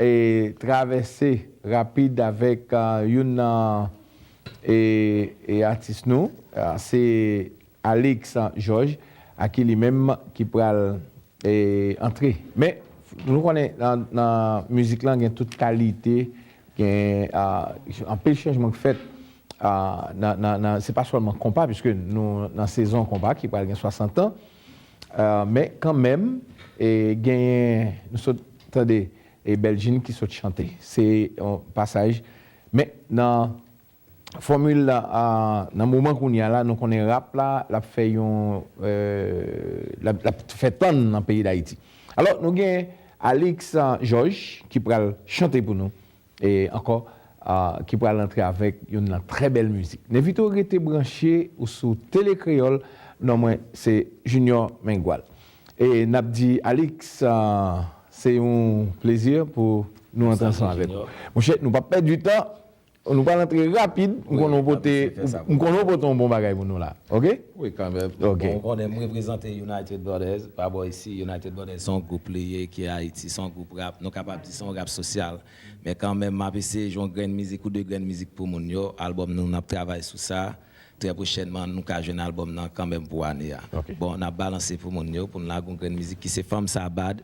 e travèse rapid avèk youn nan e atis nou se Alix Georges a ki li menm ki pral e antre men nou konnen nan mizik lan gen tout kalite gen anpil chanjman k fèt nan se pa sèlman konpa piske nou nan sezon konpa ki pral gen 60 ans. Men kanmenm genyen nou sot tande e Beljin ki sot chante. Se yon pasaj men nan fòmil la nan moman kounye a la nou konnen rap la l ap fè yon l ap fè tann nan peyi Dayiti. Alò nou gen Alix Georges ki pral chante pou nou. E ankò ki pral antre avèk youn nan trè bèl mizik. N envite w rete branche ou sou Tele Kreyòl, non mwen se Junior Mengual. E n ap di Alix se yon plezi pou nou antre ansanm avèk ou. Monchè nou p ap pèdi tan, nou pral antre rapid, m konnen w pote yon bon bagay pou nou la. Ok? Wi kanmèm, bon ou konnen m reprezante United Brothers pa bò isi, United Brothers se yon gwoup li ye ki Ayiti, se yon gwoup rap, nou kapab di se yon rap sosyal, men kanmèm m ap eseye jwe yon grenn mizik ou 2 grenn mizik pou moun yo, albòm nou, n ap travay sou sa, trè pwochènman nou ka jwenn albòm nan kanmèm pou ane a. Bon n ap balanse pou moun yo, pou n lage yon grenn mizik ki se Fanm sa bad,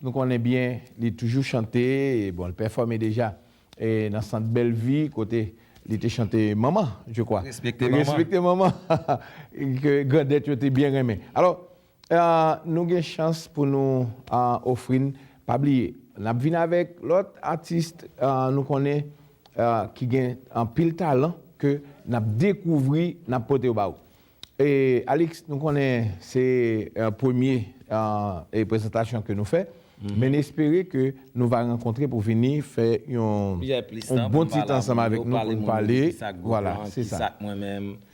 Nou konnen byen li toujou chante, bon li pèfòme deja nan sant Bèlvi kote li te chante Manman je kwa. Respekte manman. Respekte manman ke grandèt yo te byen renmen. Alò nou gen chans pou nou ofri n, pa bliye n ap vin avèk lòt atis nou konnen ki gen anpil talan ke n ap dekouvri n ap pote yo ba ou. Alix nou konnen se premye prezantasyon ke nou fè men n espere ke nou va rankontre pou vini fè yon bon ti tan ansanm avèk nou pou n pale vwala se sa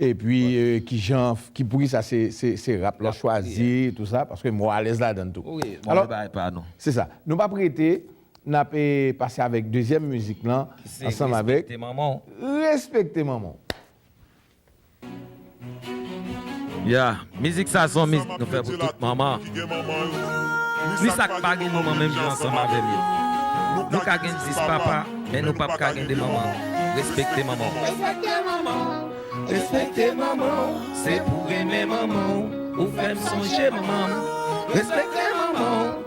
epi kijan poukisa se rap la w chwazi tou sa paske m wè w alèz ladan l tou alò se sa nou p ap rete n ap pase avèk dezyèm mizik lan ansanm avèk respekte manman w. Ya, mizik sa son mizik nou fè pou tout manman, ni sa k pa gen manman menm jan ansanm avè m yo. Nou ka gen 10 papa, men nou pap ka gen 2 manman. Respekte manman w. Respekte manman w. Respekte manman w. Se pou renmen manman w. Ou fè m sonje manman m. Respekte manman w.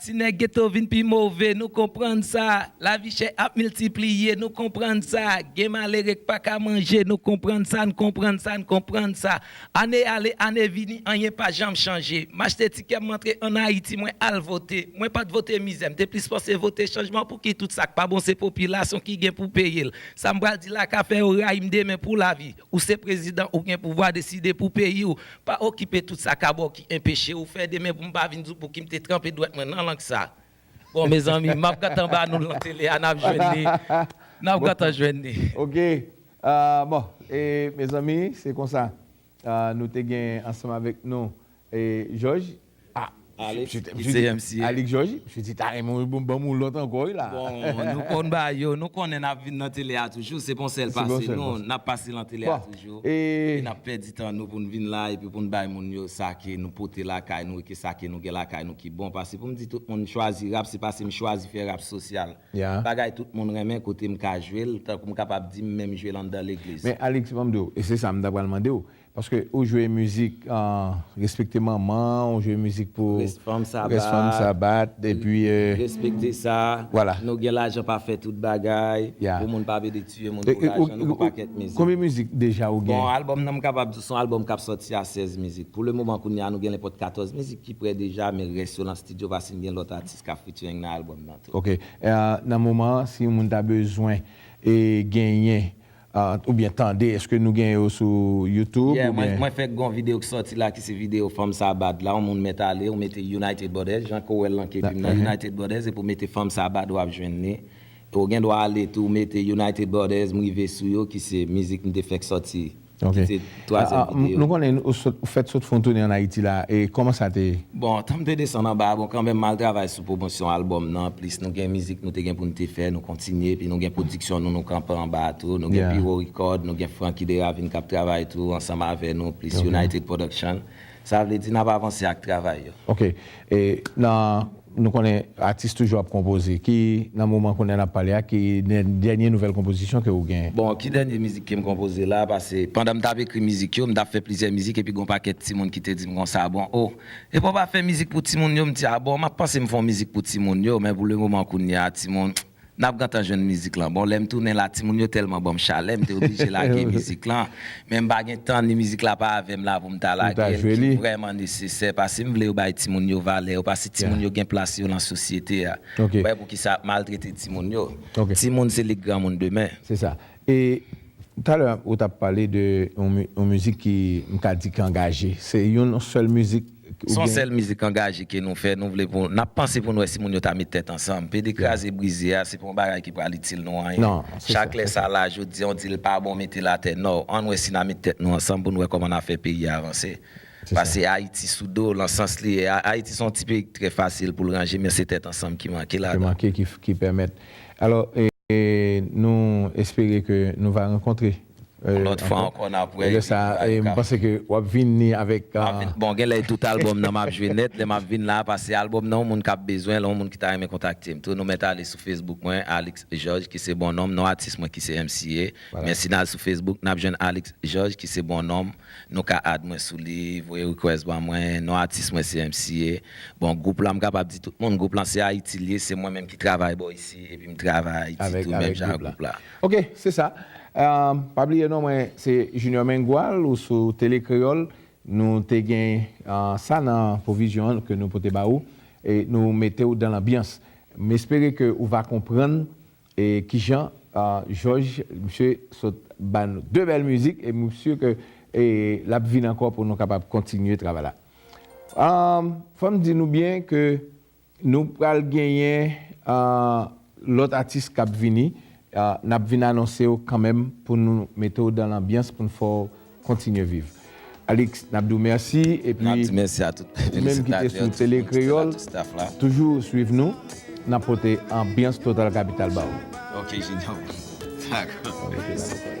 Ti nèg geto vin pi move, nou konprann sa. Lavi chè ap miltipliye, nou konprann sa. Gen malere k pa ka manje, nou konprann sa, n konprann sa, n konprann sa. Ane ale, ane vini, anyen pa janm chanje. M achte tikè, m antre ann Ayiti, mwen al vote. Mwen pa t vote mizè, m te plis panse vote chanjman. Pouki tout sa k pa bon se popilasyon ki gen pou peye l? Sa m pral di la ka fè yo rayi m demen pou lavi. Ou se prezidan ou gen pouvwa deside pou peyi w. Pa okipe tout sa ka ba w ki enpeche w fè demen pou m pa vin di w pou ki m te tranpe dwèt mwen nan lang sa. Bon mezanmi m ap gentan ba nou l nan tele a n ap jwenn li. N ap gentan jwenn li. Ok bon e mezanmi se konsa nou te gen ansanm avèk nou Jòj, ah, Alix, ki se MCA. Alix Jòj, msye di ta renmen w banm yon lòt ankò wi la. Bon, nou konn ba yo, nou konnen n ap vin nan tele a toujou, se pa yon sèl pase nou, n ap pase nan tele a toujou, e n ap pèdi tan nou pou n vin la epi pou n bay moun yo sa ke nou pote lakay nou e ke sa ke nou gen lakay nou ki bon, pase pou m di tout moun m chwazi rap, se pase m chwazi fè rap sosyal, bagay tout moun renmen kote m ka jwe l, tankou m kapab di m menm jwe l anndan legliz. Men Alix, ban m di w, e se sa m ta pral mande w, Paske ou jwe mizik respekte manman ou jwe mizik pou rès fanm sa bat epi respekte sa nou gen lajan pa fè tout bagay pou moun pa vede tiye moun pou lajan nou pou pakèt mizik. Konbyen mizik deja ou gen? Bon album nan m kapab di son album kap sòti a 16 mizik pou le moman kounya nou gen nenpòt 14 mizik ki prè deja men rès yo nan studio paske m gen lòt atis kap featuring nan album nan tou. Ok nan moman si yon moun ta bezwen genyen. Oubyen tande eske nou gen yo sou youtube Yeah oubyen. mwen fèk gon video ki sòti la ki se video fanm sa bad la yon moun mèt ale ou mete United Brothers jan ke w wèl lan ke pi m nan United Brothers epi w mete fanm sa bad wap jwenn li e w gen dwa ale tou mete United Brothers m rive sou yo ki se mizik m te fèk sòti ki te. Twazyèm videyo. Nou konnen ou sot, ou fèt sot fon toune an Ayiti la, e kòman sa te ye? Bon, tan m te desann anba a, bon kanmenm mal travay sou pwomosyon albòm nan, plis nou gen mizik nou te gen pou n te fè, nou kontinye, epi nou gen pwodiksyon nou, nou kanpe anba a tou, nou gen Piro Record, nou gen Francky Deravine k ap travay tou ansanm avè nou, plis United Production. Sa vle di nap avanse ak travay yo. Ok e nan nou konnen atis toujou ap konpoze ki nan moman kounye nap pale a ki dènye nouvèl konpozisyon ke ou gen? Bon ki dènye mizik kem konpoze la pase pandan m tap ekri mizik yo m tap fè plizyè mizik epi gon pakèt timoun ki te dim konsa bon oh epa w pa fè mizik pou timoun yo m di a bon map panse m fon mizik pou timoun yo men pou le moman kounye a timoun Nap gentan jwenn mizik lan. Bon lèm tounen la timoun yo tèlman banm chalè mte oblije lage mizik lan men mpa gen tan ni mizik la pa avèm la poum ta lagel ki vrèman nesesè pasem vle yo bay timoun yo valè yo pase timoun yo gen plas yo lan sosyete a mpa wè poukisa yap maltrete timoun yo timoun se lit granmoun demen. E talè ou tap pale de yon mizik ki m ka di ki angaje. Se yon sèl mizik ou gen? Son sèl mizik angaje ke nou fè, nou vle pou, nap panse pou nou wè si moun yo ta met tèt ansanm. PD kraze brize a, se pa yon bagay ki pral itil nou anyen. Chak lè sa la, jodi an w di l pa bon mete l atè, no. Ann wè si na met tèt nou ansanm pou nou wè kòman na fè peyi a avanse. Pase Ayiti sou do, lan sans li ye a, Ayiti se yon ti peyi ki trè fasil pou l ranje men se tèt ansanm ki manke ladan. Ki manke ki pèmèt. Alò, nou espere ke nou va rankontre. Yon lòt fwa ankò n ap wè. Lè sa a, e m panse ke w ap vini avèk. Bon, gen lè e tout albòm nan m ap jwe nèt lè m ap vin la a pase albòm nan yon moun k ap bezwen l, yon moun ki ta renmen kontakte m tou nou mèt ale sou Facebook mwen Alix Georges ki se bon non m, non atis mwen ki se MCA. Men si n al sou Facebook n ap jwenn Alix Georges ki se bon non m. Nou ka add mwen sou li, voye request ban mwen, non atis mwen se MCA. Bon group lan m kapab di tout moun group lan se Ayiti li ye, se mwen menm ki travay bò isi epi m travay Ayiti tou menm jan ak group la. Ok se sa. Pa bliye non mwen se Junior Mengual ou sou Tele Kreyol nou te gen sa nan pwovizyon an ke nou pote ba ou e nou mete ou dan lanbyans. M espere ke ou va konprann E kijan jòj misye sot bann 2 bèl mizik e mwen sur ke lap vin ankò pou nou kapab kontinye travay la fòm di nou byen ke nou pral genyen lòt atis kap vini nap vin anonsew kanmenm pou nou metew dan lanbyans poun fèw Kontinye viv. Alix nap diw mèsi epi Nap di mèsi a tout ou menm ki te sou tele kreyol toujou swiv nou nap pote anbyans total kapital ba ou. Ok Junior Dako.